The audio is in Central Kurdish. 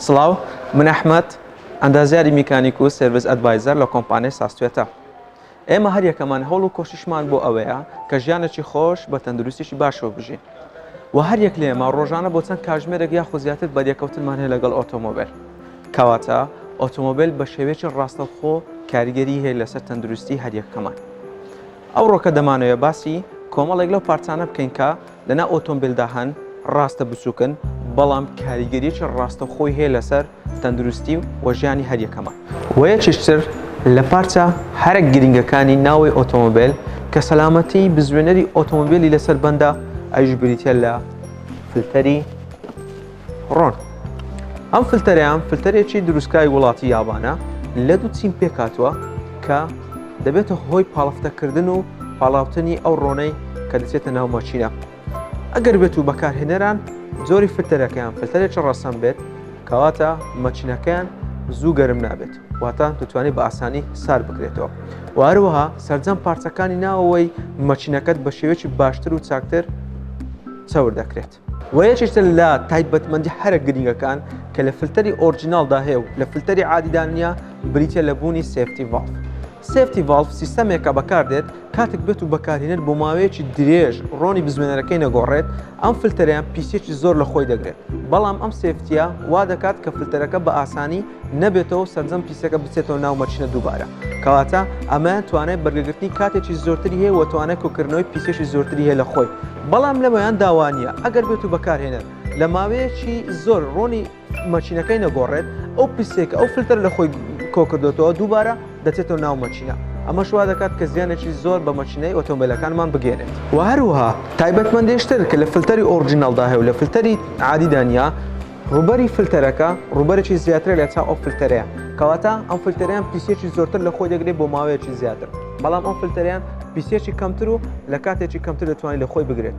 سڵاو من ئەحمد ئەندازیاری میکانیک و سرویس ئەدڤایزەر لە کۆمپانیای ساستێتە ئێمە هەر یەکەمان هەوڵ و کۆشیشمان بۆ ئەوەیە کە ژیانێکی خۆش بە تەندروستیشی باشەوە بژین و هەر یەک لێمە ڕۆژانە بۆ چەند کاژمێرەێک یا خۆزیاتر بەریەکەوتنمان هەیە لەگەڵ ئۆتۆمۆبیل کەواتە ئۆتۆمۆبیل بە شێوێکی ڕاستەوخۆ کاریگەری هەیە لەسەر تەندروستی هەریەکەمان ئەوڕۆکە دەمانەوێت باسی کۆمەڵێک لەو پارچانە بکەین کە لەناو ئۆتۆمبیلدا هەن، ڕاستە بچووکن، بەڵام کاریگەرییەکی ڕاستەوخۆی هەیە لەسەر تەندروستی و ژیانی هەریەکەمان. وە یەکێک تر لە پارچە هەرە گرنگەکانی ناوەی ئۆتۆمبیل کە سەلامەتی بزوێنەری ئۆتۆمبیلی لەسەر بەندە، ئەویش بریتییە لە فلتەری. ڕۆن، ئەم فلتەرەیان فلتەرێکی دروستکراوی وڵاتی یابانە لە دوو چین پێکهاتووە کە دەبێتە هۆی پاڵفتەکردن و پاڵاوتنی ئەو ڕۆنەی کە دەچێتە ناو ماشینە ئەگەر بێت و بەکارهێنەران جۆری فلتەرەکەیان فلتەرێکی ڕەسەن بێت کەواتە مەچینەکەیان زوو گەرم نابێت واتە دەتوانێت بە ئاسانی سار بکرێتەوە وارەوەها سەررجەم پارچەکانی ناوەوەی مەچینەکەت بە شێوێکی باشتر و چاکتر چاور دەکرێت. وە یەکێکە لە تایبەتمەندی هەرە گرنگەکان کە لە فلتەری ئۆرجیناڵدا هەیە و لە فلتەری عادیدا نییە بریتیە لە بوونی سێفتی ڤاڵف سێفتی ڤاڵف سیستەمێکە بەکاردێت کاتێک بێت و بەکارهێنەر بۆ ماوەیەکی درێژ ڕۆنی بزوێنەرەکەی نەگۆڕێت ئەم فلتەریان پیسێکی زۆر لە خۆی دەگرێت بەڵام ئەم سێفتیە وا دەکات کە فلتەرەکە بە ئاسانی نەبێتەوەو سەرجەم پیسەکە بچێتەوە ناو مەچنە دووبارە کەواتە ئەمە توانای بەرگەگرتنی کاتێکی زۆرتری هەیە و توانای کۆکردنەوەی پیسێکی زۆرتری هەیە لە خۆی بەڵام لەمەیان داوانە ئەگەر بێت و بەکارهێنەر لە ماوەیەکی زۆر ڕۆنی مەچینەکەی نەگۆڕێت ئەو پیسێکە ئەو فلتەر لە خۆی کۆکردێتەوە دووبارە دەچێتەوە ناو مەچینە ئەمە شوا دەکات کە زیانێکی زۆر بە مەچینەی ئۆتۆمبیلەکانمان بگەێنێت و هەروها تایبەتمەندێشتر کە لە فلتەری ئۆرجینالدا هەیە و لە فلتەری عادیدانیا ڕووبەری فلتەرەکە ڕووبەرێکی زیاترە لە چاو ئەو فلتەرەیە کەواتە ئەم فلتەریان پیسێکی زۆرتر لە خۆی دەگرێت بۆ ماوەیەکی زیاتر بەڵام ئەم فلتەریان پیسێکی کەمتر و لە کاتێکی کەمتر دەتوانین لە خۆی بگرێت.